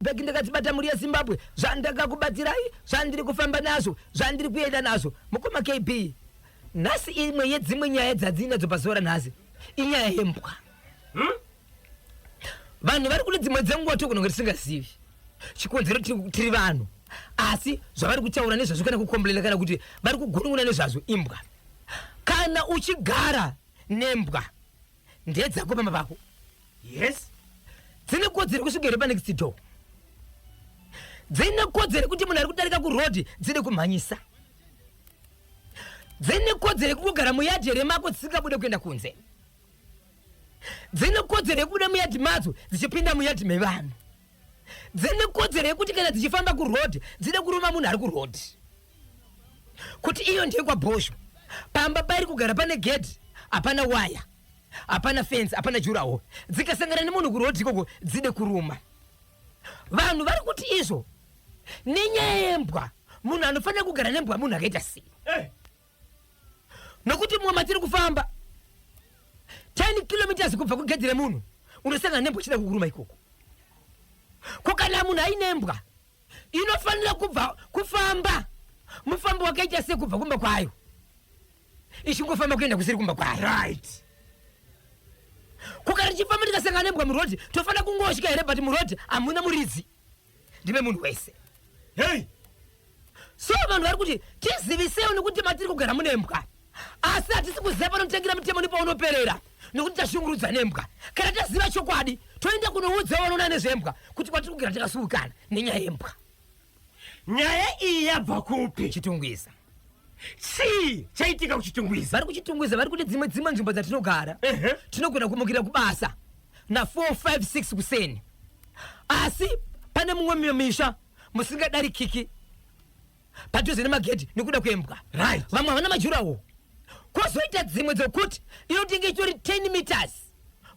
Bag ndakadzibata mhuri yeZimbabwe zvandakakubatsirai zvandiri kufamba nazvo zvandiri kuenda nazvo mukoma KB nhasi imwe yedzimwe nyaya dzadzinadzo pazuva ranhasi inyaya yembwa hmm? vanhu vari kune dzimwe dzenguva tokunonge tisingazivi chikonzero tiri vanhu asi zvavari kutaura nezvazvo kana kukomblena kana kuti vari kugunun'una nezvazvo imbwa kana uchigara nembwa Ndedzako mama vako. Yes. Dzine kodzero kusvika here panext door. Dzine kodzero kuti munhu ari kudarika kuroad dzine kumhanyisa. Dzine kodzero kugara muyadhi here mako dzisingabude kuenda kunze. Dzine kodzero yekubuda muyadhi madzo dzichipinda muyadhi mevanhu. Dzine kodzero yekuti kana dzichifamba kuroad dzine kuruma munhu ari kuroad. kuti iyo ndeyekwabhosho pamba pairi kugara pane gedhi hapana waya hapana fensi hapana jurawo dzikasangana nemunhu kurodhi ikoko dzide kuruma vanhu vari kuti izvo nenyaya yembwa munhu anofanira kugara nembwa munhu akaita sei hey. Eh. nokuti mumwe matiri kufamba 10 kilometers kubva kugedhi remunhu unosangana nembwa chida kukuruma ikoko ko kana munhu ainembwa inofanira kubva kufamba mufambo wakaita sei kubva kumba kwayo ichingofamba kuenda kusiri kumba kwayo right kuka richifamba ndikasangana nembwa murodi tofanira kungosvika here but murodi hamuna muridzi ndive munhu wese hei so vanhu vari kuti tizivisewo nekuti matiri kugara mune mbwa asi hatisi kuziva panotangira mutemo nepaunoperera nokuti tashungurudza nembwa kana taziva chokwadi toenda kunoudza vanoona nezvembwa kuti kwatiri kugara takasuwikana nenyaya yembwa nyaya iyi yabva kupi chitungwiza chii chaitika kuchitungwiza vari kuchitungwiza vari kune dzimwe dzimwe nzvimbo dzatinogara tinogona kumukira kubasa na 456 kuseni asi pane mumwe misha musingadarikiki padhuze nemagedhi nekuda kwembwa right. vamwe havana majurawo kwozoita dzimwe dzokuti inotenge ichitori 10 meters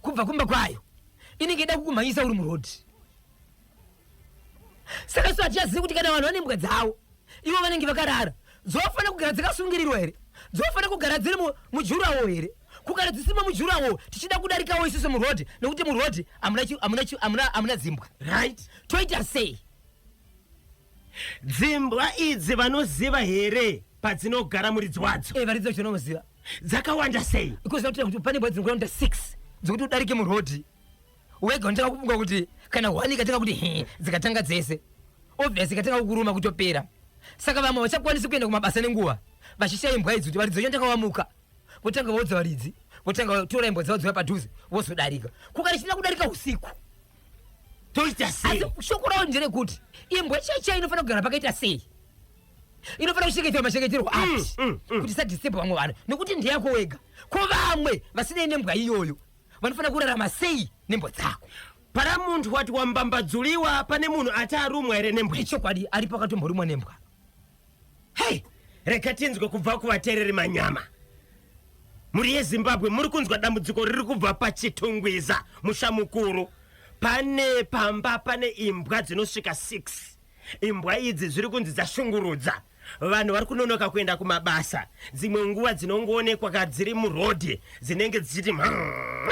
kubva kumba kwayo inenge ida kukumhanyisa uri murodhi saka so hatichazivi kuti kana vanhu vane mbwa dzavo ivo vanenge vakarara dzofanira kugara dzakasungirirwa here dzofanira kugara dziri mujurawo here kugara dzisima mujurawo tichida kudarikawo isusu murodhi nekuti murodhi hamuna dzimbwa right toita sei Dzimbwa idzi vanoziva here padzinogara muridzi wadzo? Eh, varidzi vacho vanoziva. Dzakawanda sei? Ikoziva kuti kuti pane mbwa dzinogona kuita 6 dzekuti udarike murodhi wega unotanga kufunga kuti kana hwani ikatanga kuti he dzikatanga dzese obvious ikatanga kukuruma kutopera saka vamwe vachakwanisi kuenda kumabasa nenguva vachishaya imbwa idzi kuti varidzi vacho ndanga vamuka votanga vaudza varidzi votanga vatora imbwa dzavo dzouya padhuze vozodarika kukarichina kudarika usiku toita sei asi shoko ravo nderekuti imbwa cheche inofanira kugara pakaita sei inofanira kuchengeterwa machengeterwo mm, ati mm, mm. kuti isadisturbe vamwe vanhu nekuti ndeyako wega ko vamwe vasinei nembwa iyoyo vanofanira kurarama sei nembwa dzako para munhu wati wambambadzuliwa pane munhu ati arumwa here nembwa ichokwadi ari pakatomborumwa nembwa Hey, rega tinzwe kubva kuvatereri manyama. Mhuri yeZimbabwe muri kunzwa dambudziko riri kubva paChitungwiza musha mukuru. Pane pamba pane imbwa dzinosvika 6. Imbwa idzi zviri kunzi dzashungurudza. Vanhu vari kunonoka kuenda kumabasa. Dzimwe nguva dzinongoonekwa kadziri murodhi dzinenge dzichiti mhaa.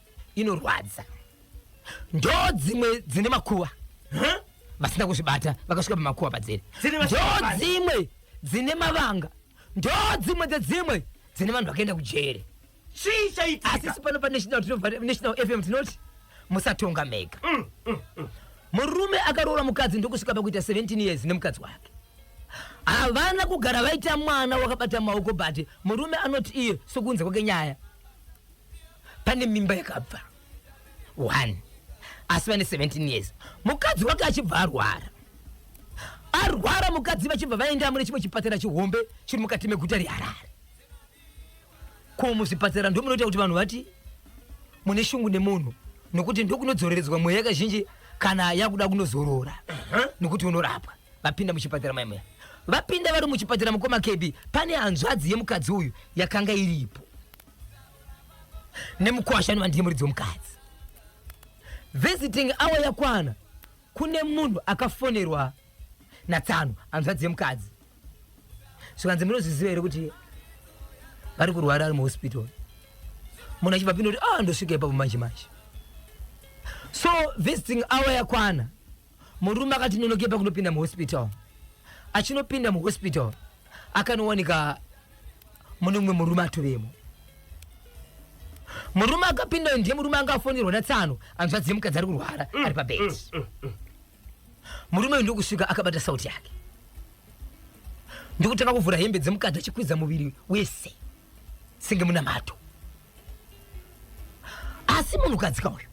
inorwadza ndo dzimwe dzine makuva huh? vasina kuzvibata vakasvika pamakuva padziri ndo dzimwe dzine mavanga ndo dzimwe dzedzimwe dzine vanhu vakaenda kujere chii chaitika asi sipano panational national fm tinoti musatonga mega mm, mm, mm. murume akaroora mukadzi ndokusvika pakuita 17 years nemukadzi wake havana kugara vaita mwana wakabata maoko but murume anoti iye sokunze kwake nyaya pane mimba yakabva one asi vane 17 years mukadzi wake achibva arwara arwara mukadzi vachibva vaenda mune chimwe chipatara chihombe chiri mukati meguta reharare ko muzvipatara ndo munoita kuti vanhu vati mune shungu nemunhu nokuti ndokunodzoreredzwa mweya yakazhinji kana yakuda kunozorora nokuti unorapwa vapinda muchipatara maimweya vapinda vari muchipatara mukoma kebi pane hanzvadzi yemukadzi uyu yakanga iripo nemukwasha anova ndine muridzi wemukadzi visiting awa yakwana kune munhu akafonerwa natsano hanzvadzi yemukadzi zvikanzi munozviziva here kuti vari kurwara ari muhospital munhu achibva pindoti a ah, ndosvika ipapo manje manje so visiting awa yakwana Murume akati nonoke pakunopinda muhospital. Achinopinda muhospital akanowanika mune mumwe murume atovemo. Murume akapinda ndiye murume anga afonerwa natsano hanzvadzi yemukadzi ari kurwara mm, ari pabed. Mm, mm, murume uyu ndokusvika akabata sauti yake ndokutanga kuvhura hembe dzemukadzi achikwidza muviri wese senge munamato. asi munhukadzika uyu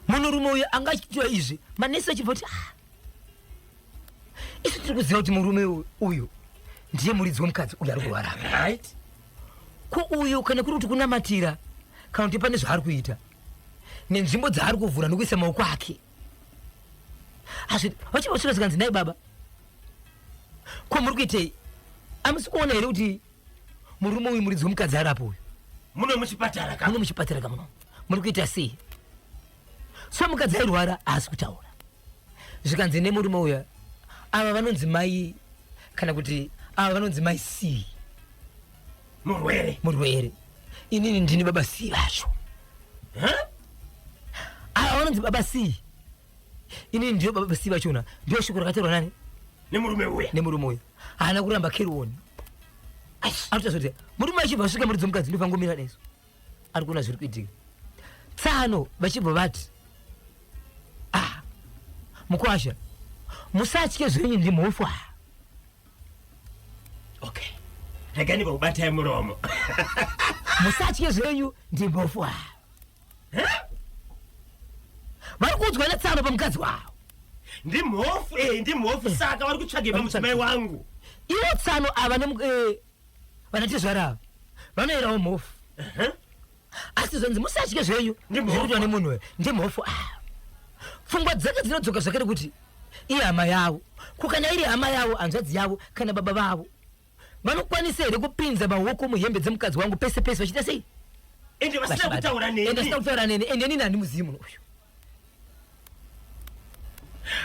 munhurume uyu anga achitiwa izvi manesi achibva kuti ah, isu tiri kuziva kuti murume uyu ndiye muridzi wemukadzi uyu ari kurwara right ko uyu kana kuri kuti kunamatira kana kuti pane zvaari kuita nenzvimbo dzaari kuvhura nokuisa maoko ake vachibva kusvika zvikanzi nai baba ko muri kuitei amusi kuona here kuti Murume uyu muridzi wemukadzi arapo uyu. Muno muchipatara ka. Muno muchipatara ka muno. Muri kuita sei? So mukadzi airwara haasi kutaura. Zvikanzi nemurume uya ava vanonzi mai kana kuti ava vanonzi mai C. Murwere. Murwere. Inini ndini baba C vacho. Huh? Ava vanonzi baba C. Ini ndiyo baba basiva vachona ndiyo shoko rakatorwa nani nemurume uya nemurume uya haana kuramba kerioni anotazoti murume achibva asvika muri dzomukadzi ndofangomira nesu ari kuona zviri kuitika tsano vachibva vati ah mukwasha musatye zvenyu ndimhofu aya okay reganiko kubatai muromo musatye zvenyu ndimhofu aya vari kuudzwa netsano pamukadzi wavo ndimhofu e ndimhofu eh. saka vari kutsvage pamudzimai wangu ivo tsano ava eh, vanatezvara ava vanoerawo mhofu asi zvanzi musatye zvenyu zvirikuitwa nemunhu uyo ndimhofu ava ah. pfungwa dzake dzinodzoka zvakare kuti ihama yavo kukana iri hama yavo hanzvadzi yavo kana baba vavo Vanokwanisa here kupinza maoko muhembe dzemukadzi wangu pese pese vachiita sei? Ende vasina kutaura neni. Ende vasina kutaura neni. Ende nini handi muzivi munhu uyu.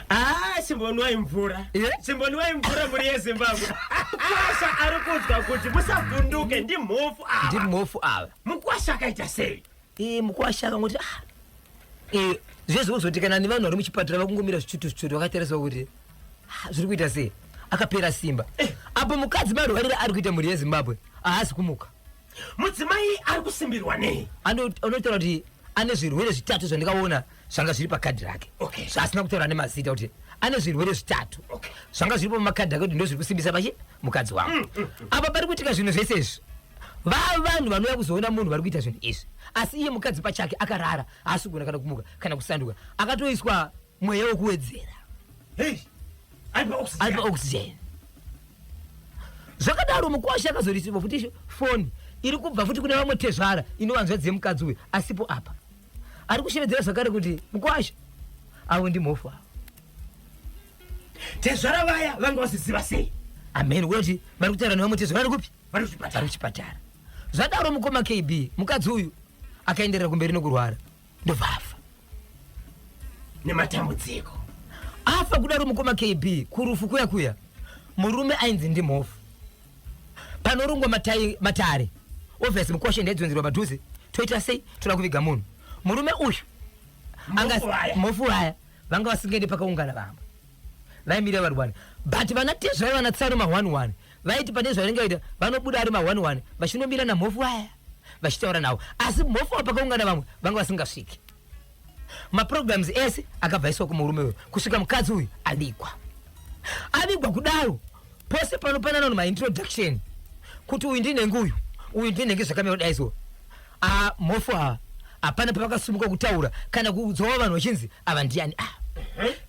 Ah, simbonwai mvura. Yeah. Simbonwai mvura muri yeZimbabwe. Mukwasha ari kunzwa kuti musavhunduke ndimhofu ava. Ndimhofu ava. Mukwasha akaita sei? Iyi mukwasha akangoti ah, eh, zvezvo kuzotekana nevanhu vari muchipatara vakungomira zvichutu zvichutu vakatarisa kuti ah, zviri kuita sei akapera simba eh. apo mukadzi marwarire ari kuita mhuri yezimbabwe ahasi kumuka mudzimai ari kusimbirwa nei anotaura kuti ane zvirwere zvitatu zvandikaona zvanga zviri pakadhi rake okay. zvaasina kutaura nemazita kuti ane zvirwere zvitatu okay. zvanga zviripo mumakadhi ake kuti ndozviri kusimbisa pachi mukadzi wangu mm, mm, mm. apa pari kuitika zvinhu zvese izvi vaa vanhu vanouya kuzoona munhu vari kuita zvinhu izvi asi iye mukadzi pachake akarara haasi kugona kana kumuka kana kusanduka akatoiswa mweya wekuwedzera hey, aipa oxygen zvakadaro mukwasha akazorisirwa futi foni iri kubva futi kune vamwe tezvara inovanzvadzi yemukadzi uyu asipo apa ari kushevedzera zvakare kuti mukwasha avo ndimhofu avo tezvara vaya vanga vaziziva sei amheni woti vari kutaura newe mutezvara ari kupi vari kuchipatara zvadaro mukoma kb mukadzi uyu akaenderera kumberi nokurwara ndobva afa nematambudziko afa kudaro mukoma kb kurufu kuya kuya murume ainzi ndimhofu panorungwa matai matare obviously mukwashe ndaidzonzerwa padhuze toita sei toda kuviga munhu murume uyu mofu vaya vanga vasingaende pakaungana vamwe vaimirira vari wani but vana tezvai vana tsaro ma one one vaiti pane zvavanenge vaita vanobuda ari ma one one vachinomira namhofu vaya vachitaura navo asi mhofu vapakaungana vamwe vanga vasingasviki maprograms ese akabva aiswa kumurume uyu kusvika mukadzi uyu avigwa avigwa kudaro pose panopanana no maintroduction kuti uyu ndinenge uyu uyu ndinenge zvakamira kudai so ah, mhofu ava hapana pavakasumuka kutaura kana kuudzawo vanhu vachinzi ava ndiyani ah.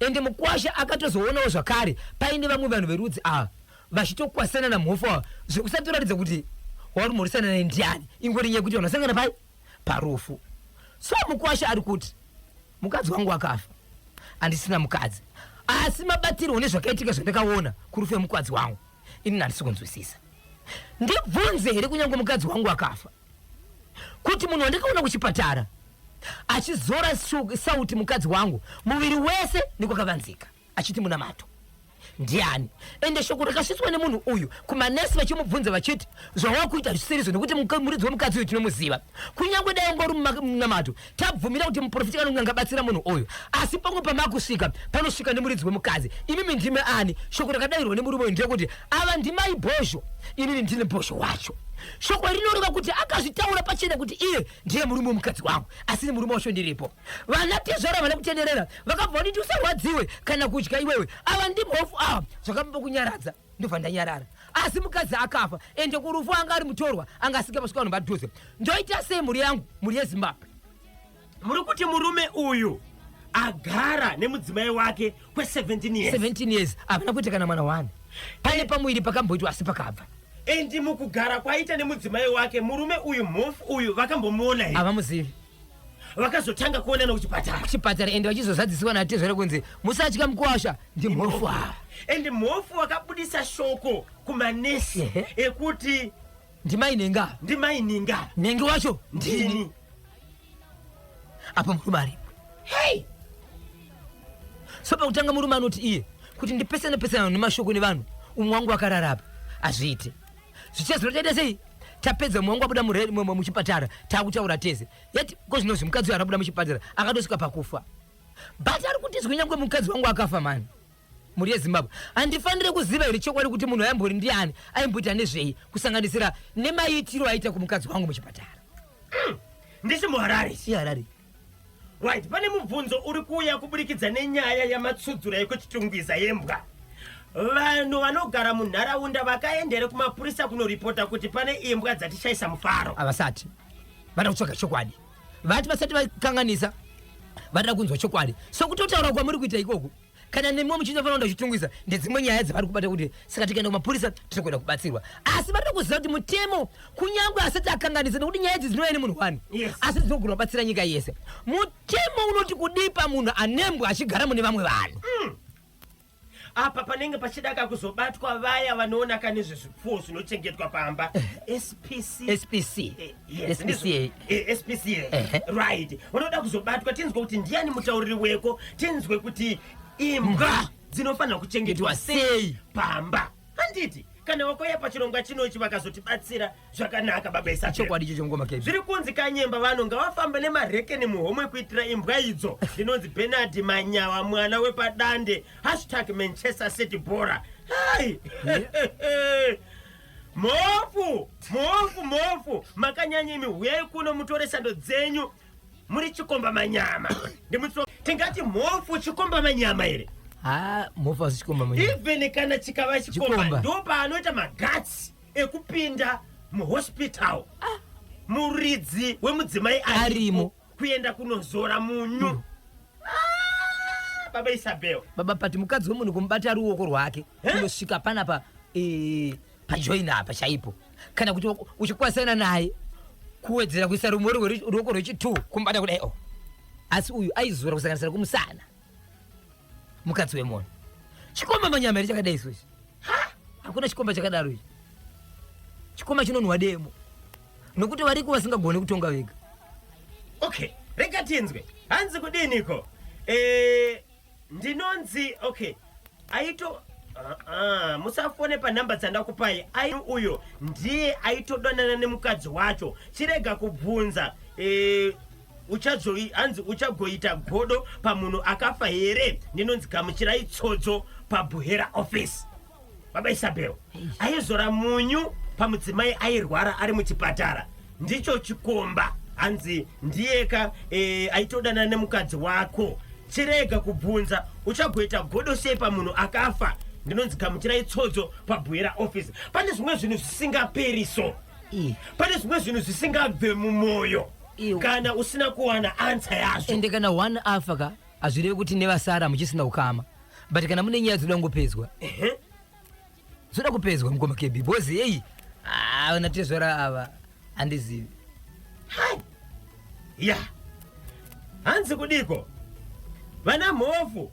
ende mukwasha akatozoonawo zvakare paine vamwe vanhu verudzi ava vachitokwasana namhofu ava zvekusato ratidza kuti wauri mhorisana naye ndiyani ingori nyaya kuti vanhu vasangana pai parufu so mukwasha ari kuti mukadzi wangu wakafa andisina mukadzi asi mabatirwo nezvakaitika zvandakaona kurufu yemukadzi wangu ini nandisi kunzwisisa ndibvunze here kunyange mukadzi wangu akafa kuti munhu wandakaona kuchipatara achizora sauti mukadzi wangu muviri wese nekwakavanzika achiti munamato ndiani ende shoko rakasvitswa nemunhu uyu kumanesi vachimubvunza vachiti zvawakuita zvisirizvo nekuti muridzi wemukadzi uyu tinomuziva kunyange dai ungori munamato tabvumira kuti muprofiti kanonge angabatsira munhu uyu asi pango pamakusvika panosvika nemuridzi wemukadzi imimi ndime ani shoko rakadairwa nemurume uyu ndeyekuti ava ndimai bhozho inini ndine bhozho wacho shoko rinoreva kuti akazvitaura pachena kuti iye ndiye murume wemukadzi wangu asi nemurume wacho ndiripo Vana tezvara vane kutenderera vakabva kuti usarwadziwe kana kudya iwewe ava ndimhofu ava zvakamba kunyaradza ndobva ndanyarara asi mukadzi akafa ende kurufu anga ari mutorwa anga asika pasvika vanhu padhuze ndoita sei mhuri yangu mhuri yezimbabwe muri kuti murume uyu agara nemudzimai wake kwe17 years 17 years havana kuita kana mwana wani pane pamuviri pakamboitwa asi pakabva endi mukugara kwaita nemudzimai wake murume uyu mhofu uyu vakambomuona here havamuzivi vakazotanga kuonana kuchipatara kuchipatara ende vachizozadzisiwa natezvara kunzi musatya mukuwasha ndimhofu ava ende mhofu wakabudisa shoko kumanesi ekuti ndimai nenga ndimai nenga nenge wacho ndini apa murume aripo hei so pakutanga murume anoti iye kuti ndipesane pesana nemashoko nevanhu umwe wangu akararapa azviite zvichazino taita sei tapedza mwangu abuda muchipatara takutaura tese yet ko zvinozvi mukadzi uyo abuda muchipatara akatosvika pakufa but ari kuti zwi nyangwe mukadzi wangu akafa mani mhuri yezimbabwe handifanire kuziva here chokwadi kuti munhu aimbori ndiani aimboita nezvei kusanganisira nemaitiro aita kumukadzi wangu muchipatara ndisi muharare si harare Right, pane mubvunzo uri kuuya kuburikidza nenyaya yamatsudzura yekuchitungwiza yembwa. Vanhu vanogara munharaunda vakaendere kumapurisa kunoripota kuti pane imbwa dzatishaisa mufaro. Avasati vada kutsvaga chokwadi, vati vasati vakanganisa, vada kunzwa chokwadi. So kutotaura kwamuri kuita ikoku kana nemiwo muchinda fana ndachitungwisa ndedzimwe nyaya dzavari kubata kuti saka tikaenda kumapurisa tinokwenda kubatsirwa asi vanoda kuziva kuti mutemo kunyange asati akanganisa nekuti nyaya idzi dzinouya nemunhu wani asi dzinogona kubatsira nyika yese mutemo unoti kudipa munhu anembwa achigara mune vamwe vanhu mm. apa panenge pachidaka kuzobatwa vaya vanoonaka nezvezvipfuwo zvinochengetwa pamba spc eh, spc eh. Yes, SPCA. ndizvo. Eh, SPCA. Ehe. Right. Vanoda kuzobatwa tinzwe kuti ndiyani mutauriri weko tinzwe kuti imbwa dzinofanira kuchengetwa Itwa sei sei? pamba. Handiti kana wakauya pachirongwa chinochi vakazotibatsira zvakanaka baba Isabel. chokwadi icho chongoma kb zviri kunzi kanyemba vanhu ngavafambe nemarekeni muhomwe kuitira imbwa idzo ndinonzi benard manyawa mwana wepadande hashtag manchester city bora hai Mhofu, mhofu, mhofu, makanyanya imi, huyai kuno mutore sando dzenyu. Muri chikomba manyama. Ndimutso tingati mhofu chikomba manyama here? Ha, mhofu asi chikomba manyama. Even kana chikava chikomba, chikomba. ndo paanoita magatsi ekupinda muhospital. Ah. Muridzi wemudzimai arimo. kuenda kunozora munyu mm. ah, baba isabel baba pati mukadzi wemunhu kumubata ruoko rwake kunosvika panapa e, pajoina apa chaipo kana kuti uchikwasaina naye kuwedzera kuisa rumwe ruoko rwechitwo kumubata kudai o oh. asi uyu aizora kusanganisira kumusana mukadzi wemunhu chikomba manyama here chakadai so ichi hakuna chikomba chakadaro ichi chikomba chinonhuwa demo nokuti variko vasingagone kutonga vega okay rega tinzwe hanzi kudiniko eh, ndinonzi okay aito Uh-uh. musafone panhamba dzandakupai ai uyo ndiye aitodonana nemukadzi wacho chirega kubvunza eh, uchazoi hanzi uchagoita godo pamunhu akafa here ndinonzi gamuchirai tsodzo pabuhera office baba isabel aizora munyu pamudzimai airwara ari muchipatara ndicho chikomba hanzi ndiyeka e, aitodanana nemukadzi wako chirega kubvunza uchagoita godo sei pamunhu akafa ndinonzi gamuchirai tsodzo pabuhera office pane zvimwe zvinhu zvisingaperi so pane zvimwe zvinhu zvisingabve mumwoyo Iwe. kana usina kuwana ansa yazvo ende kana one afa ka hazvireve kuti nevasara hamuchisina ukama but kana mune nyaya dzoda kungopedzwa Ehe. dzoda kupedzwa mukoma kb because heyi ah, vana tezvara ava handizivi Hai. ya hanzi kudiko vana mhofu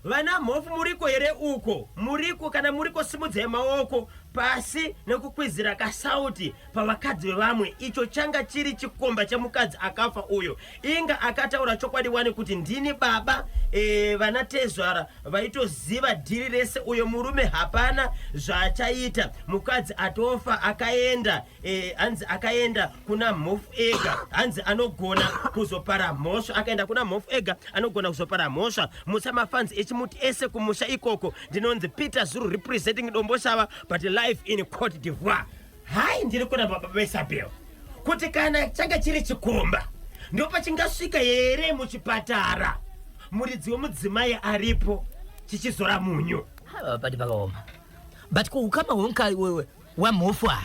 vana mhofu muriko here uko muriko kana muriko simudzai maoko pasi nekukwizira kasauti pavakadzi vevamwe icho changa chiri chikomba chemukadzi akafa uyo inga akataura chokwadi wani kuti ndini baba e, vana tezvara vaitoziva dhiri rese uyo murume hapana zvaachaita mukadzi atofa akaenda e, hanzi akaenda kuna mhofu ega hanzi anogona kuzopara mhosva akaenda kuna mhofu ega anogona kuzopara mhosva musa mafanzi echimuti ese kumusha ikoko ndinonzi peter zuru representing domboshava but life in court divoir Hai ndiri kuna baba veSabel kuti kana changa chiri chikomba ndopa chingasvika here muchipatara muridzi wemudzimai aripo chichizora munyu. Hava pati pakaoma. But kuukama hwemka wewe wamhofu ava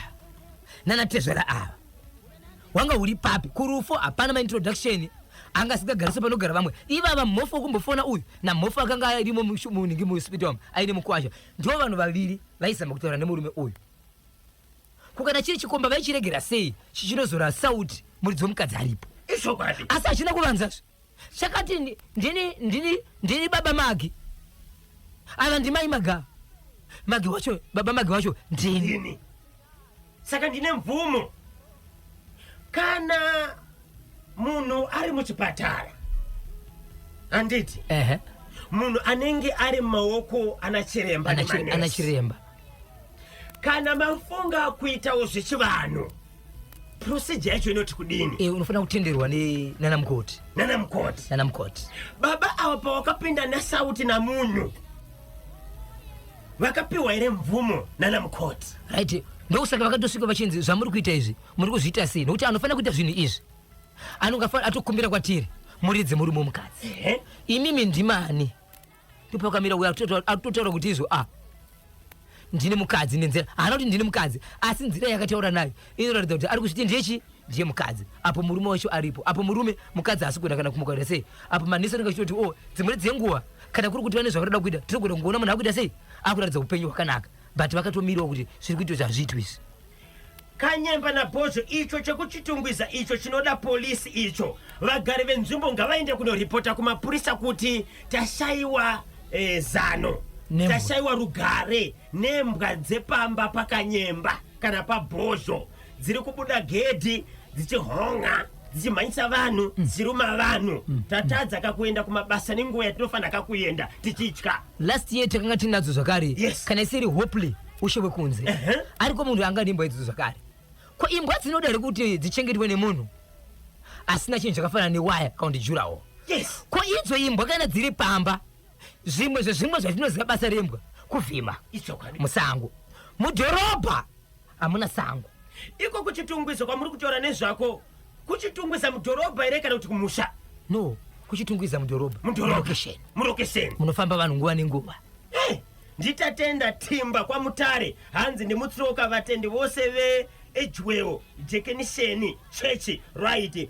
nana tezvera ava wanga uri papi kurufu hapana ma introduction anga asingagarise panogara vamwe ivava mhofu wekumbofona uyu namhofu akanga arimo munhingi muhospital aine mukwasha ndivo vanhu vaviri vaizama kutaura nemurume uyu Ko kana chiri chikomba vaichiregera sei chichinozora sauti muridzi wemukadzi aripo? Ichokwadi. Asi hachina kuvanzazve. Chakati ndi- ndini ndini ndini baba Magi. Ava ndimai Maga. Magi wacho baba Magi wacho ndini. Ndini. Saka ndine mvumo. Kana munhu ari muchipatara handiti ehe munhu anenge ari mumaoko ana chiremba ana chire- ana nemanesi. chiremba kana mafunga kuitawo zvechivanhu procedure yacho inoti kudini Eh, unofanira kutenderwa ne- nana mukoti nana mukoti nana mukoti baba ava pavakapinda nasauti namunyu vakapiwa here mvumo nana mukoti right ndokusaka vakatosvika vachinzi zvamuri kuita izvi muri kuzviita sei nokuti anofanira kuita zvinhu izvi anongafa atokumbira kwatiri muridze murume womukadzi imimi ndimani ndopakamira uya atotaura kuti izvo a ah, ndine mukadzi nenzira haana kuti ndine mukadzi asi nzira yakataura nayo inoratidza kuti ari kuzviti ndechi ndiye mukadzi apo murume wacho aripo apo murume mukadzi haasi kuenda kana kumuka kuita sei apo manesi anenge achitoti o oh, dzimweni dzenguva kana kuri kuti vane zvavanoda kuita tinogona kungoona munhu akuita sei akuratidza upenyu hwakanaka but vakatomirawo kuti zviri kuitwa zvazviitwa izvi Kanyemba na Bhozho icho chekuchitungwiza icho chinoda police icho. Vagari venzvimbo ngavaende kunoripota kumapurisa kuti tashaiwa eh, zano. Nembwa. Tashaiwa rugare nembwa dzepamba pakanyemba kana pabhozho dziri kubuda gedhi dzichihon'a dzichimhanyisa vanhu dzichiruma vanhu tatadza kakuenda kumabasa nenguva yatinofanira kakuenda tichitya Last year takanga tinadzo zvakare. Yes. Kana isiri hopely. ushe wekunze uh -huh. ariko munhu anga ane imbwa idzo zvakare ko imbwa dzinoda here kuti dzichengetwe nemunhu asina chinhu chakafanana newaya kana kuti jurawo yes. ko idzo imbwa kana dziri pamba zvimwe zvezvimwe zvatinoziva basa rembwa kuvhima musango mudhorobha hamuna sango iko kuchitungwiza kwamuri kutaura nezvako kuchitungwiza mudhorobha here kana kuti kumusha no kuchitungwiza mudhorobha mudhorobha murokesheni munofamba vanhu nguva nenguva hey. NdiTatenda Timba kwaMutare hanzi ndimutsiroka vatendi vose ve Edgewell Jekenisheni chechi rwaiti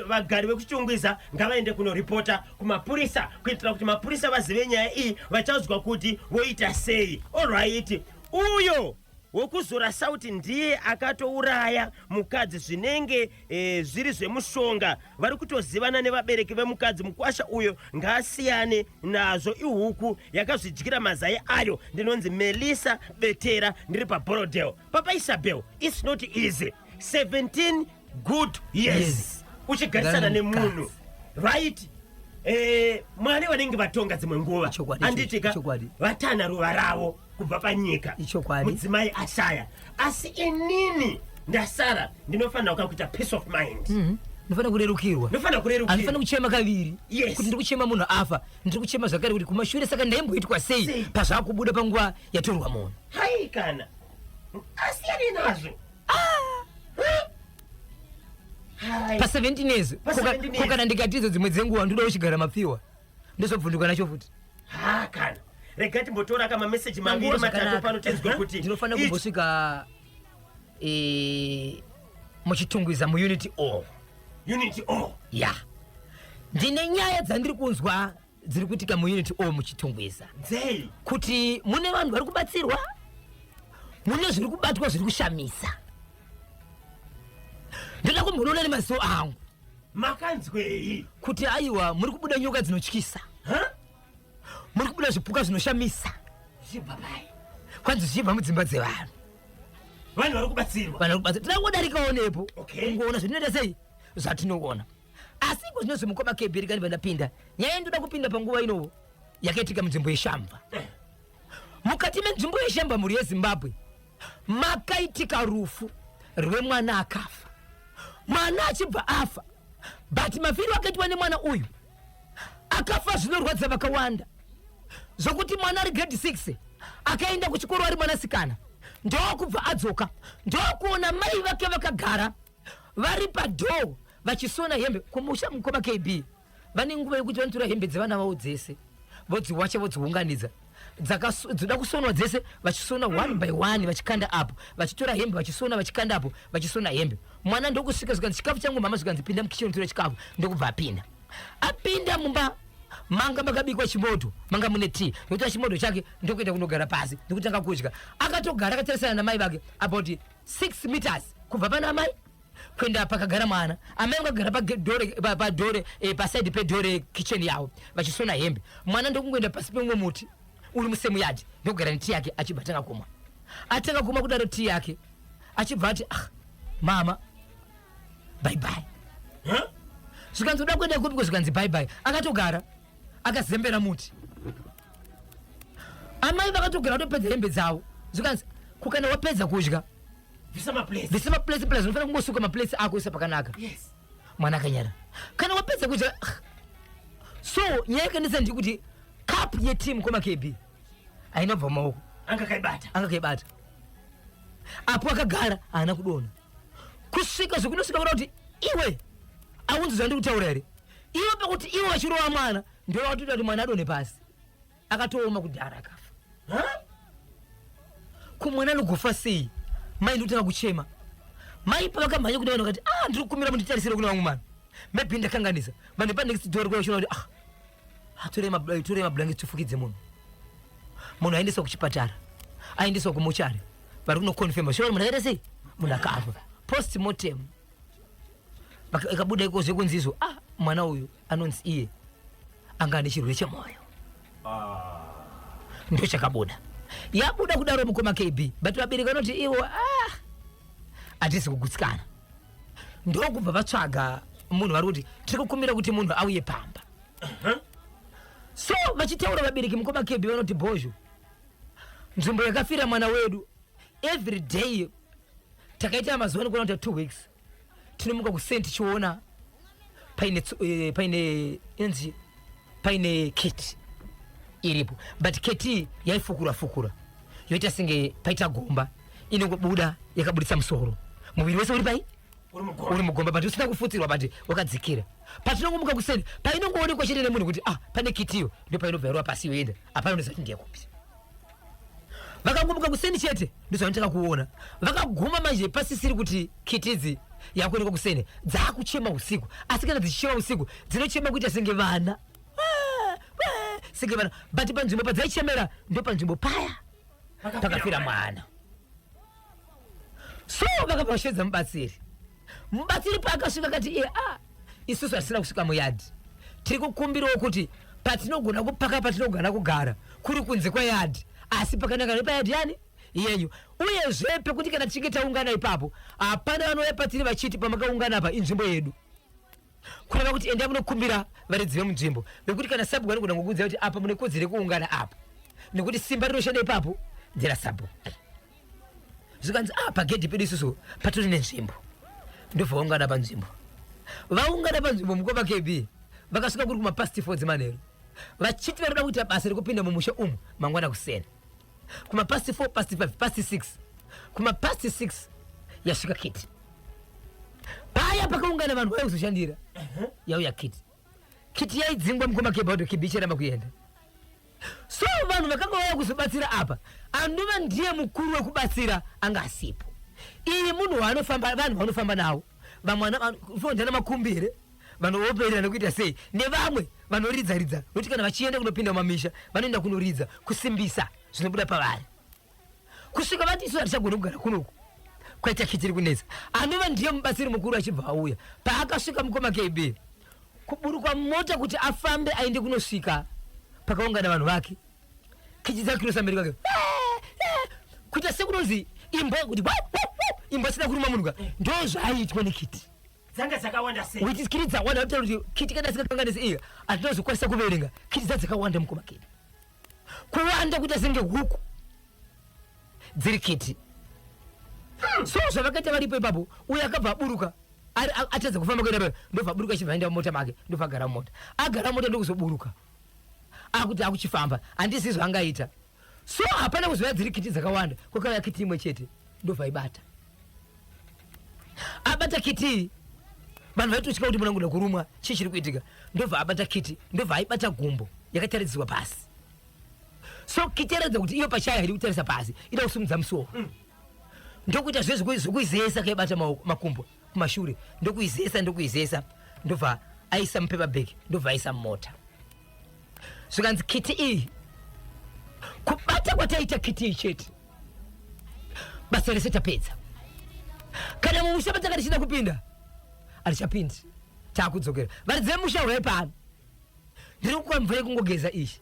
vagari vekuChitungwiza ngavaende kunoripota kumapurisa kuitira kuti mapurisa vazive nyaya iyi vachaudzwa kuti voita sei. Orwaiti uyo wokuzora sauti ndiye akatouraya mukadzi zvinenge e, zviri zvemushonga vari kutozivana nevabereki vemukadzi mukwasha uyo ngaasiyane nazvo ihuku yakazvidyira mazai ayo ndinonzi melisa betera ndiri paborodel papa isabel its not easy 17 good years yes. uchigarisana nemunhu right eh, mwari vanenge vatonga dzimwe nguva anditika vatana ruva ravo kubva panyika mudzimai ashaya asi inini ndasara ndinofanira kuka kuita peace of mind mm -hmm ndofana kurerukirwa ndofana kurerukirwa andifana kuchema kaviri yes. kuti ndikuchema munhu afa ndiri kuchema zvakare kuti kumashure saka ndaimboitwa sei pazvakubuda panguva yatorwa munhu hai kana asiyane nazvo pa 17 years ko kana ndikatizo dzimwe dzenguva ndoda uchigara mapfiwa ndozobvunduka nacho futi ha kana rega timbotora ka mameseji maviri matatu pano tinzwe kuti ndinofanira kumbosvika e, muchitungwiza muunity o unity o ya ndine nyaya dzandiri kunzwa dziri kuitika muunity o muchitungwiza dzei kuti mune vanhu vari kubatsirwa mune zviri kubatwa zviri kushamisa ndoda kumbonoona nemaziso angu makanzwei kuti aiwa muri kubuda nyoka dzinotyisa muri kubuda zvipuka zvinoshamisa zvichibva pai kwanzi zvichibva mudzimba dzevanhu vanhu vari kubatsirwa vanhu vari kubatsirwa tinangodarikaonepo okay. ungoona zvatinoita sei zvatinoona asi iko zvino zvimukoma kebhiri kani vandapinda nyaya ndoda kupinda panguva inovo yakaitika munzvimbo yeshamba mukati menzvimbo yeshamba mhuri yezimbabwe makaitika rufu rwemwana akafa mwana achibva afa but mafiro akaitwa nemwana uyu akafa zvinorwadza vakawanda zvokuti mwana ari grade 6 akaenda kuchikoro ari mwanasikana ndokubva adzoka ndokuona mai vake vakagara vari padhoo vachisona hembe kumusha mukoma kb vane nguva yekuti vanotora hembe dzevana vavo dzese vodziwacha vodziunganidza dzoda kusonwa dzese vachisona one by one vachikanda apo vachitora hembe vachisona vachikanda apo vachisona hembe mwana ndokusvika zvikanzi chikafu changu mama zvikanzi pinda mukicheni unotora chikafu ndokubva apinda apinda mumba manga makabikwa chimoto manga mune tea ndotora chimoto chake ndokuenda kunogara pasi ndokutanga kudya akatogara akatarisana namai vake about 6 meters kubva pana amai kuenda pakagara mwana amai vakagara padore pa, pa, pa eh, pasaidi pedore kicheni yavo vachisona hembe mwana ndokungoenda pasi pemumwe muti uri musemuyadi ndokugara neti yake achibva atanga kumwa atanga kumwa kudaro tii yake achibva ati ah, mama baibai huh? zvikanzi uda kuenda kupi ko zvikanzi baibai akatogara akazembera muti amai vakatogera kutopedza hembe dzavo zvikanzi kukana wapedza kudya visa maplace visa maplace plus unofanira kungosuka maplace ako isa pakanaka yes mwana akanyara kana wapedza kudya so nyaya yakanetsa ndiri kuti cup yeteam koma kb haina bva maoko anga kaibata anga kaibata apo akagara haana kudona kusvika zvekunosvika kuda kuti iwe aunzi zvandiri kutaura here iwe pakuti iwe vachirova mwana Ndoda kuti tati mwana adone pasi. Akatooma kudhara akafa. Huh? Ko mwana anogofa sei? Mai ndotanga kuchema. Mai pavakamhanya kuda vanhu vakati, "Ah, ndiri kukumira munditarisire kuna vamwe vanhu." Maybe ndakanganisa. Vanhu pa next door kuya kuti ah. Atore ma eh, tore ma blanket tufukidze munhu. Munhu aendeswa kuchipatara. Aendeswa kumochari. Vari kuno confirm. Shora munhu akaita sei? Munhu akafa. Post mortem. ikabuda ikoze kunzizo ah mwana uyu anonzi iye anga ane chirwere chemwoyo ah. ndo chakabuda yabuda kudaro mukoma kb but vabereki vanoti ivo ah hatisi kugutsikana ndokubva vatsvaga munhu vari kuti tiri kukumbira kuti munhu auye pamba so vachitaura vabereki mukoma kb vanoti bhozho nzvimbo yakafira mwana wedu every day takaita mazuva anokwana kuita two weeks tinomuka kuseni tichiona paine eh, paine inzi paine keti iripo but keti yaifukura fukura yoita senge paita gomba inongobuda yakaburitsa musoro muviri wese uri pai uri mugomba but usina kufutsirwa but wakadzikira patinongomuka kuseni painongoonekwa chete nemunhu kuti ah pane kitiyo ndio painobva yarova pasi yoenda hapana unoziva kuti ndiyekupi vakagomuka kuseni chete ndozvanotanga kuona vakaguma manje pasisiri kuti kitidzi yakuonekwa kuseni dzaakuchema usiku asi kana dzichichema usiku dzinochema kuita senge vana senge vana but panzvimbo padzaichemera ndopanzvimbo paya pakafira mwana so vakabva vashevedza mubatsiri mubatsiri paakasvika akati iye a ah, isusu hatisina kusvika muyadhi tiri kukumbirawo kuti patinogona kupaka patinogona kugara kuri kunze kweyadhi asi pakanaka nepayadhi yani yenyu uyezve pekuti kana tichinge taungana ipapo hapana vanouya patiri vachiti pamakaungana apa inzvimbo yedu kureva kuti endai munokumbira varidzi vemunzvimbo vekuti kana sabhuku vanogona kukuudza kuti apa mune kodzero yekuungana apa nekuti simba rinoshanda ipapo ndera sabhuku zvikanzi a ah, pagedhi pedu isusu patori nenzvimbo ndobva vaungana panzvimbo vaungana panzvimbo mukoma kb vakasvika kuri kumapasti fodzi manheru vachiti vanoda kuita basa rekupinda mumusha umu mangwana kusena kuma past 4 past 5 past 6 kuma past 6 yasvika kiti paya pakaungana vanhu vaya kuzoshandira yauya kiti kiti yaidzingwa mukoma kebaudo kibi icharamba kuenda so vanhu vakanga vauya kuzobatsira apa anova ndiye mukuru wekubatsira anga asipo iyi munhu waanofamba vanhu vanofamba nawo vamwe vanofonda namakumbi here vanooperera nekuita sei nevamwe vanoridza ridza nokuti kana vachienda kunopinda mumamisha vanoenda kunoridza kusimbisa zvinobuda pavari kusvika vati isu hatichagona kugara kunoku kwaita kichiri kunetsa anova ndiye mubatsiri mukuru achibva auya paakasvika mukoma kb kuburukwa mota kuti afambe aende kunosvika pakaungana vanhu vake kechi dzakirosa mberi kwake kuita sekunonzi imbwa kuti imbwa isina kuruma munhu ka ndo zvaiitwa nekiti dzanga dzakawanda sei witi kiti dzawanda kutaura kuti kiti kana sikakanganisi iya hatinozokwanisa kuverenga kiti dza dzakawanda mukoma kiti kuwanda kuita senge huku dziri kiti so zvavakaita varipo ipapo uye akabva aburuka atadza kufamba kuenda paa ndobva aburuka achibva aenda mumota make ndobva agara mumota agara mumota ndokuzoburuka akuti akuchifamba handisi zvangaita so hapana kuzoya dziri kiti dzakawanda kwakauya kiti imwe chete ndovhaibata abata kiti vanhu vaitotya kuti munangoda kurumwa chii chiri kuitika ndobva abata kiti ndobva aibata gumbo yakataridzirwa pasi so kiti yaratidza kuti iyo pachayo haidi kutarisa pasi ida kusumudza musoro ndokuita zve zvekuizesa kaibata makumbo kumashure ndokuizesa ndokuizesa ndobva aisa mupaper bag ndobva aisa mumota zvikanzi kiti iyi kubata kwataita kiti iyi chete basa rese tapedza kana mumusha patanga tichida kupinda hatichapindi taakudzokera varidzi vemusha hurai pano ndiri kukuwa mvura yekungogeza iyi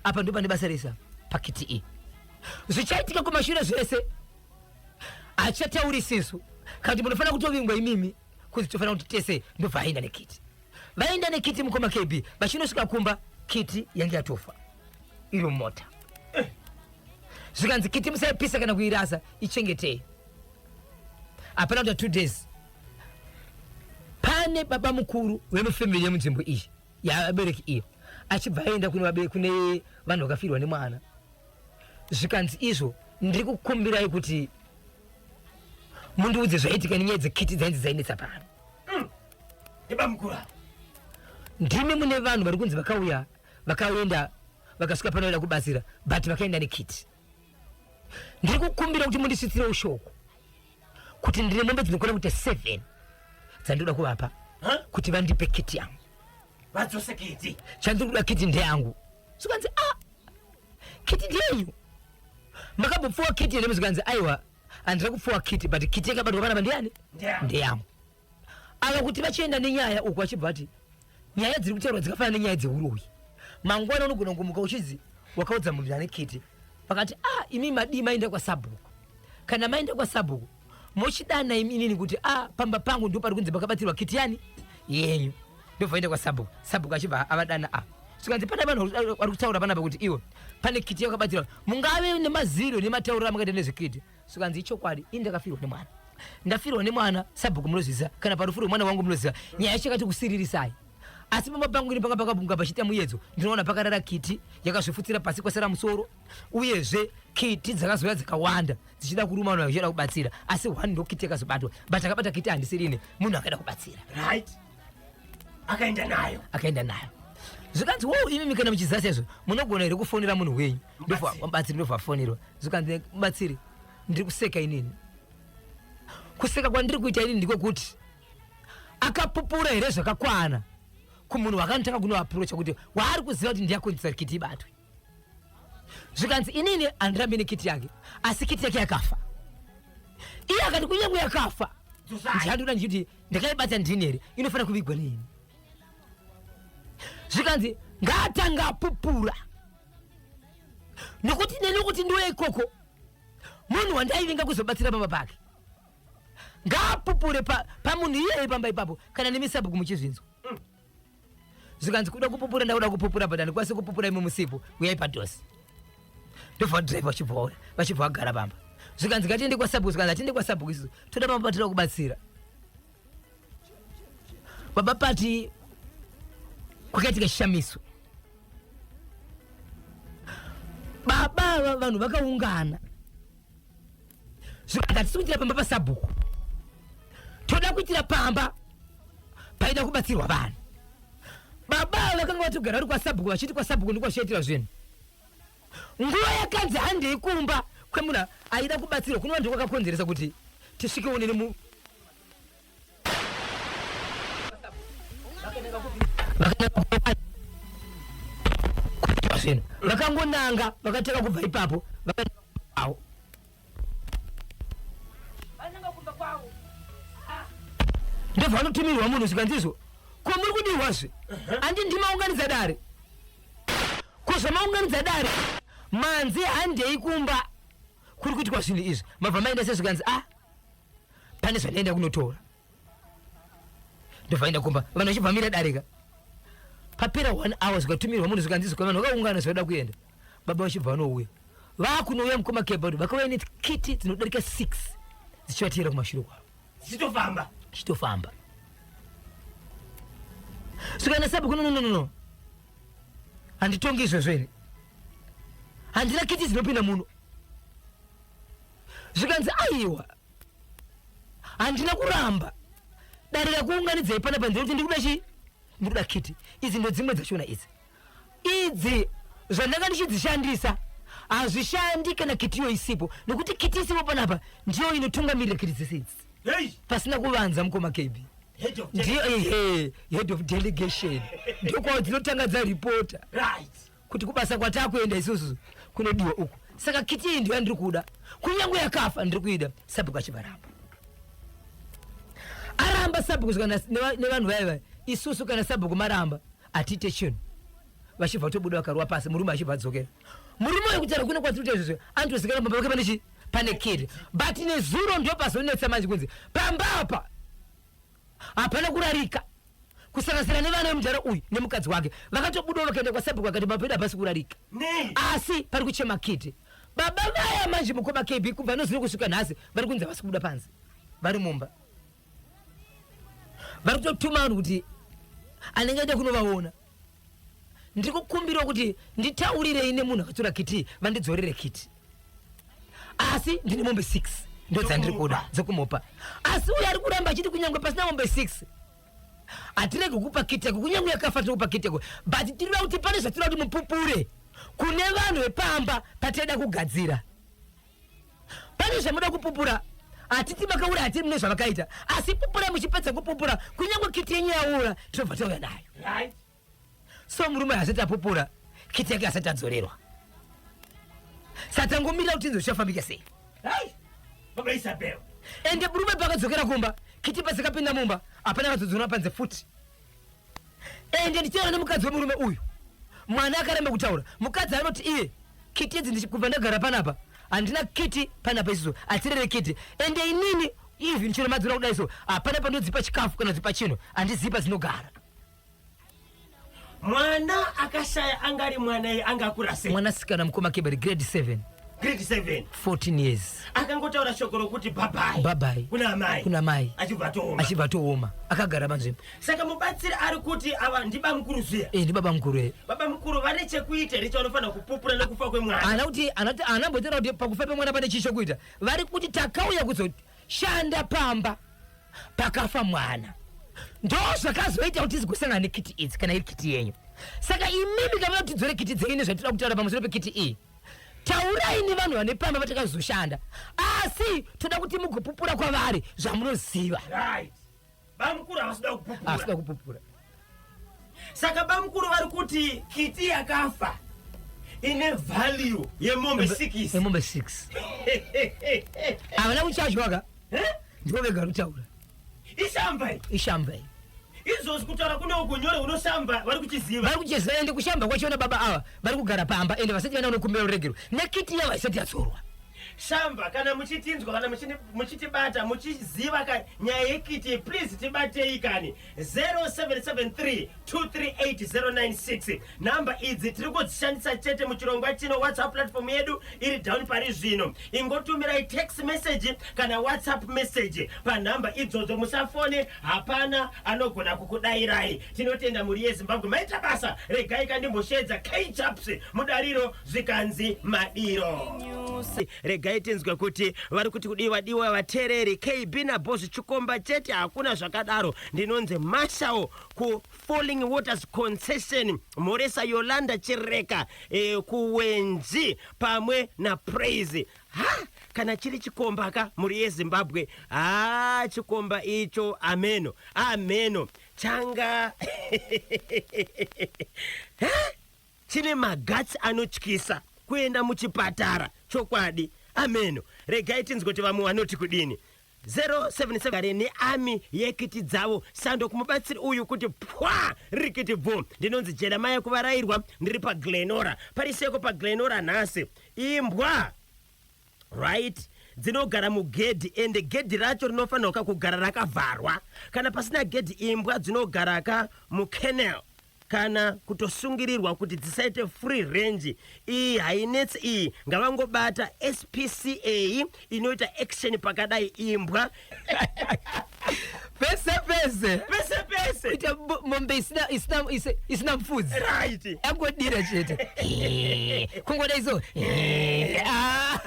apa ndopane basa resa pakiti iyi zvichaitika kumashure zvese achatauri sisu kana munofanira kutovingwa imimi kuti tofanira kuti tese ndobva aenda nekiti vaenda nekiti mukoma kb vachinosvika kumba kiti yange yatofa iro mota eh. zvikanzi kiti musaipisa kana kuirasa ichengetei hapana kuta two days pane baba mukuru wemufamili yemunzvimbo iyi yaabereki iyo achibva aenda kune vanhu vakafirwa nemwana zvikanzi izvo ndiri kukumbirai kuti mundiudze zvaitika nenyaya dzekiti dzainzi dzainetsa pano mm. ndibamukura ndimi mune vanhu vari kunzi vakauya vakaenda vakasvika panoenda kubatsira but vakaenda nekiti ndiri kukumbira kuti mundisvitsire ushoko kuti ndine mombe dzinokwana kuita seven dzandinoda kuvapa kuti vandipe kiti yangu vadzose kiti chandiri kuda kiti ndeyangu zvikanzi a ah, kiti ndeyenyu makambopfuwa kiti here zvikanzi aiwa handina kupfuwa kiti but kiti yakabatwa vana vandiani ndeyangu ava kuti vachienda nenyaya uku achibva ati nyaya dziri kutaurwa dzikafanana nenyaya dzeuroyi mangwana unogona kumuka uchinzi wakaudza munhu ane kete vakati ah imi madii maenda kwasabhuku kana maenda kwasabhuku mochidana imi inini kuti ah pamba pangu ndo pari kunzi makabatirwa kiti yani yenyu ndovaenda kwasabhuku sabhuku achibva avadana ah zvikanzi pana vanhu vari kutaura panapa kuti iwo pane kiti yakabatirwa mungave nemaziro nematauriro amakaita nezvekiti zvikanzi ichokwadi ini ndakafirwa nemwana ndafirwa nemwana sabhuku munozviziva kana parufu rwemwana wangu munozviziva nyaya yacho yakati kusiririsai asi pamba pangu ini panga pakabunga pachiita muyedzo ndinoona pakarara kiti yakazvifutsira pasi kwasara musoro uyezve kiti dzakazouya dzakawanda dzichida kuruma vanhu vachichida kubatsira asi one ndokiti yakazobatwa but akabata kiti handisirini munhu akaida kubatsira right akaenda nayo akaenda nayo zvikanzi wo imi mikana muchiziva sezvo munogona here kufonera munhu wenyu ndovabatsiri ndovafonerwa zvikanzi batsiri ndiri kuseka inini kuseka kwandiri kuita inini ndiko kuti akapupura here zvakakwana kumunhu wakanotanga kunoaprocha kuti waari kuziva kuti ndiyakonzisa rikiti ibatwe zvikanzi inini handirambi nekiti yake asi kiti yake yakafa iye akati kunyange yakafa ndichatora ndichiti ndakaibata ndini here inofanira kuvigwa neini zvikanzi ngaatanga apupura nokuti neni kuti ndiuye ikoko munhu wandaivinga kuzobatsira baba pake ngaapupure pamunhu pa iyeye pamba ipapo kana nemisabhuku muchizvinzwa zvikanzi kuda kupupura ndakuda kupupura but handikwanisi kupupura imwe musipo uyai padhosi ndobva drive vachibvaora vachibva vagara pamba zvikanzi ngatiende kwasabhuku zvikanzi hatiende kwasabhuku isusu toda pamba patira kubatsira baba pati kwakaitika chishamiso baba vanhu vakaungana zvikanzi hatisi kuitira pamba pasabhuku toda kuitira pamba paida kubatsirwa vanhu baba avo vakanga vatogara vari kwasabhuku vachiti kwasabhuku ndiko vachiitira zvinhu nguva yakanzi handei kumba kwemuna aida kubatsirwa kunova ndiko kwakakonzeresa kuti tisvike unini vakangonanga vakatanga kubva ipapo vakaao ndovanotumirwa munhu zvikanzizvo ko muri kudirwazve andi ndimaunganidza dare ko zvamaunganidza dare manzi handei kumba kuri kuitwa zvinhu izvi mabva maenda se zvikanzi a ah, pane zvandaenda kunotora ndovaenda kumba vanhu vachibvamira darika papera one hour zvikatumirwa munhu zvikanzi zvikwa vanhu vakaungana zvavada kuenda baba vachibva vanouya vakunouya mukoma kebod vakauya nekiti dzinodarika six dzichivatiyera kumashure kwavo dzichitofamba dzichitofamba svikana sabu kunonononono handitongi izvezvo here handina kiti dzinopinda muno zvikanzi aiwa handina kuramba dare rakuunganidzai pana pa ndinoti ndikuda chii ndikuda kiti idzi ndo dzimwe dzashona idzi idzi zvandanga ndichidzishandisa hazvishandi kana kitiyo isipo nokuti kiti isipo panapa ndiyo inotungamirira kiti dzese idzi pasina kuvanza mukoma kb ndiyo ihe head of delegation ndokwawo dzinotanga dzaripota kuti kubasa kwatakuenda isusu kunodiwa uku saka kiti iyi ndiyo yandiri kuda kunyange yakafa ndiri kuida sabhuku achivaramba aramba sabhuku nevanhu vaya vaya isusu kana sabhuku maramba atiite chinhu vachibva tobuda vakarwa pasi murume achibva adzokera murume uyo kutaura kuno kwatiri kuita izvozvo anotozikana pamba pake pane chii pane kiri but nezuro ndo pazonetsa manje kunzi pamba apa hapana kurarika kusanganisira nevana vemudhara uyu nemukadzi wake vakatobudawo vakaenda kwasabhuku vakati mapedu hapasi kurarika asi pari kuchema kiti baba vaya manje mukoma kb kubva nozuro kusvika nhasi vari kunzi havasi kubuda panze vari mumba vari kutotuma vanhu kuti anenge aita kunovaona ndiri kukumbirawo kuti nditaurirei nemunhu akatora kiti vandidzorere kiti asi ndine mombe six ndo dzandiri kuda dzekumupa asi uyo ari kuramba achiti kunyange pasina mombe six hatirege kukupa kiteko kunyange yakafa tiri kupa kiteko but tirira kuti pane zvatira kuti mupupure kune vanhu vepamba pateda kugadzira pane zvamuda kupupura hatiti makaura hatiri mune zvavakaita asi pupura muchipedza kupupura kunyange kiti yenyu yaura tinobva tauya nayo right. so murume hasati apupura kiti yake hasati adzorerwa satangomirira kuti inzwa zvichafambika sei right. baba isabel ende murume pakadzokera kumba kiti padzikapinda mumba hapana akazodzorwa panze futi ende ndichitaura nemukadzi wemurume uyu mwana akaramba kutaura mukadzi anoti iye kiti idzi ndichikubva ndagara panapa handina kiti panapa isiso atirere kiti ende inini even chero madzura kudai so hapana pandodzipa chikafu kana dzipa chinhu handizipa dzinogara mwana akashaya angari mwana ye anga akura sei mwanasikana mukoma keberi grade 7 grade 7 14 years akangotaura shoko rokuti bhabhai bhabhai kuna amai kuna mai achibva tooma achibva atooma akagara panzvimbo saka mubatsiri ari kuti ava ndibamukuru zviya e ndibaba mukuru e baba mukuru vane chekuita here chavanofanira kupupura nekufa kwemwana ana kuti ana kuti ana ambotaura kuti pakufa pemwana pane chii chokuita vari kuti takauya kuzoshanda pamba pakafa mwana ndo zvakazoita kuti tizigosangana nekiti idzi kana iri kiti yenyu saka imimi kavana kuti dzore kiti dzenyu nezvatinoda kutaura pamusoro pekiti iyi e. taurai nevanhu vane pamba vatakazoshanda asi toda kuti mugopupura kwavari zvamunoziva right bamukuru havasida kupupura asida kupupura saka bamukuru vari kuti kiti yakafa ine value yemombe sikisi nemombe six havana kuchajwaka ndivo vega vanotaura ishamba ishamba izvozvi kutaura kune uko nyore unoshamba vari kuchiziva vari kuchiziva ende kushamba kwachiona baba ava vari kugara pamba ende vasati vana unokumbira ruregero nekiti yavo haisati yadzorwa shamba kana muchitinzwa kana muchitibata muchiziva ka nyaya yekiti please tibatei kani 0773238096 Nhamba idzi tiri kudzishandisa chete muchirongwa chino. WhatsApp platform yedu iri down pari zvino. Ingotumirai text message kana WhatsApp message panhamba idzodzo. Musafone, hapana anogona kukudairai. Tinotenda mhuri yeZimbabwe, maita basa. Regai kandimboshedza KChaps mudariro zvikanzi madiro. Regai tinzwe kuti vari kuti kudii vadiwa vatereri. KB naBoss Chikomba chete, hakuna zvakadaro. Ndinonzi Mashawo ku Falling Waters Concession, Mhoresa Yolanda Chireka, eh, Kuwenzi pamwe naPraise. Ha! kana chiri chikomba ka mhuri yezimbabwe haa chikomba icho ameno ameno changa chine magatsi anotyisa kuenda muchipatara chokwadi ameno regai tinzwe kuti vamwe vanoti kudini 077 gare nearmy yekiti dzavo sando kumubatsiri uyu kuti pwa rikiti bvu ndinonzi jeremiah kuvarairwa ndiri paglenora pari seko paglenora nhasi imbwa right dzinogara mugedhi ende gedhi racho rinofanirwa ka kugara rakavharwa kana pasina gedhi imbwa dzinogara ka mukennel kana kutosungirirwa kuti dzisaite free range iyi hainetsi iyi ngavangobata spca inoita action pakadai imbwa pese pese pese pese kuita bo- mombe isina- isina- isi- isina mfudzi right yangodira chete kungoda izo Ah.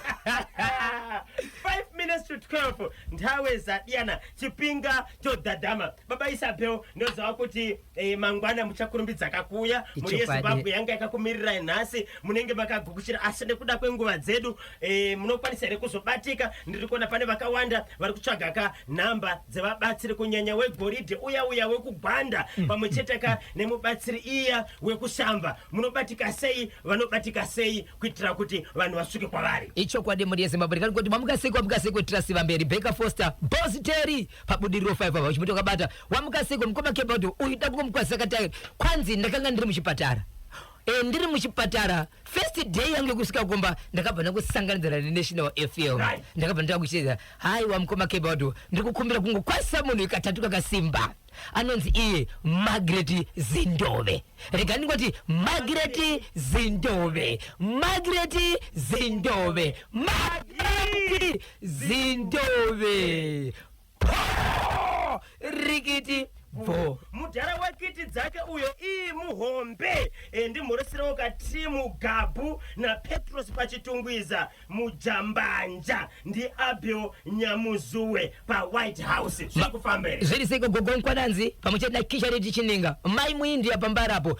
5 minutes to 12 nthawe zadiyana chipinga chodhadhama baba isabel ndoziva kuti Eh, mangwana muchakurumbidzaka kuuya mhuri Ichokwadi. yezimbabwe yanga yakakumirirai nhasi munenge makagukuchira asi nekuda kwenguva dzedu eh, munokwanisa here kuzobatika ndiri kuona pane vakawanda vari kutsvaga ka nhamba dzevabatsiri kunyanya wegoridhe uya uya wekugwanda pamwe chete ka nemubatsiri iya wekusamba munobatika sei vanobatika sei kuitira kuti vanhu vasvike kwavari ichokwadi mhuri yezimbabwe ndikati kuti mamuka sei kwamuka sei kuitira siva mberi baker foster bositeri pabudiriro 5 ava uchimutokabata Wamuka seiko mukoma Kebodho uyu da kungomukwazisa katayeri kwanzi ndakanga ndiri muchipatara e, ndiri muchipatara first day yangu yekusvika kumba ndakabva ndakusanganidzana nenational fm right. ndakabva ndava kuchidza hai wamukoma kebado ndiri kukumbira kungokwazisa munhu ikatatu kakasimba anonzi iye magret zindove rega ndingoti magret zindove magret zindove magret zindove rikiti bvo mudhara wekiti dzake uyo ii muhombe e, ndimhoreserawo katimu gabhu napetros pachitungwiza mujambanja ndiabel nyamuzuwe pawhite house zvakufamba here zviri seiko gogo mkwananzi pamwe chete nakisha riti chininga mai muindia pambarapo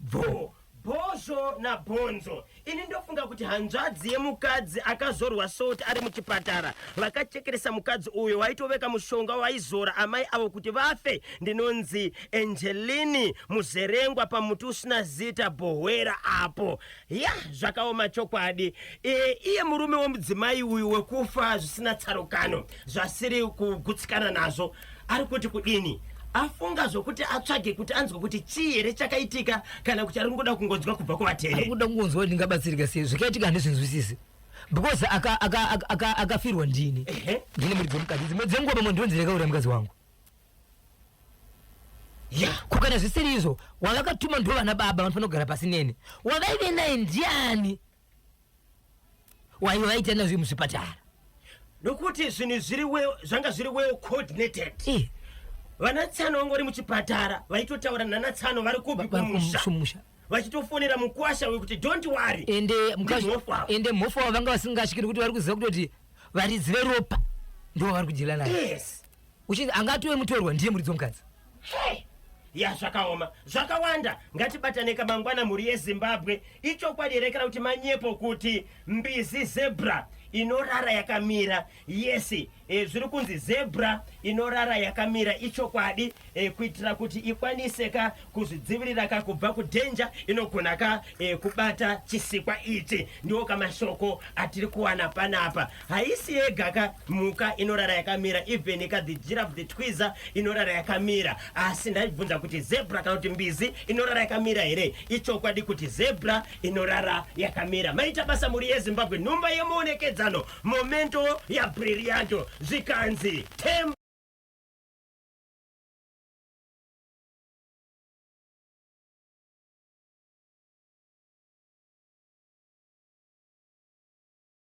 Bvo, bhozvo na bhonzo. Ini ndofunga kuti hanzvadzi yemukadzi akazorwa salt ari muchipatara vakachekeresa mukadzi uyo waitoveka mushonga waizora amai avo kuti vafe ndinonzi Angeline Muzerengwa pamuti usina zita Bhohwera apo. Yah zvakaoma chokwadi. E, iye murume wemudzimai uyu wekufa zvisina tsarukano zvasiri kugutsikana nazvo. ari kuti kudini afunga zvokuti atsvage kuti anzwe kuti chii here chakaitika kana kuti ari kungoda kungonzwa kubva kuvateveri ari kuda kungonzwa kuti ndingabatsirika sei zvakaitika handizvinzwisisi because akafirwa ndini ndine muridzo mukadzi dzimwe dzenguva pamwe ndiro nzira yakaurira mukadzi wangu kukana zvisiri izvo wavakatuma ndo vana baba vanofanira kugara pasi neni wavaive naye ndiani waive vaita nazvo muzvipatara nokuti zvinhu zviri well zvanga zviri well coordinated Eh, vana tsano vanga vari muchipatara vaitotaura nana tsano vari kupi Vari kumusha kumusha. vachitofonera mukwasha wekuti don't worry ende mukazvi- Ndimhofu ava. ende mhofu avo vanga vasingasvikiri kuti vari kuziva kutoti varidzi veropa ndo vavari kudyira nayo yes uchinzi angatove mutorwa ndiye muridzi wemukadzi ya zvakaoma zvakawanda ngatibataneka mangwana mhuri yezimbabwe ichokwadi here kana kuti manyepo kuti mbizi zebra inorara yakamira yesi e, zviri kunzi zebra inorara yakamira ichokwadi e, kuitira kuti ikwanise ka kuzvidzivirira ka kubva kudhenja inogona ka e, kubata chisikwa ichi ndiwo kamashoko atiri kuwana panapa haisi yega ka mhuka inorara yakamira even ka the giraffe the twiza inorara yakamira asi ndaibvunza kuti zebra kana kuti mbizi inorara yakamira here ichokwadi kuti zebra inorara yakamira maita basa mhuri yezimbabwe nhumba yemuonekedzano momento yabrillianto zvikanzi tem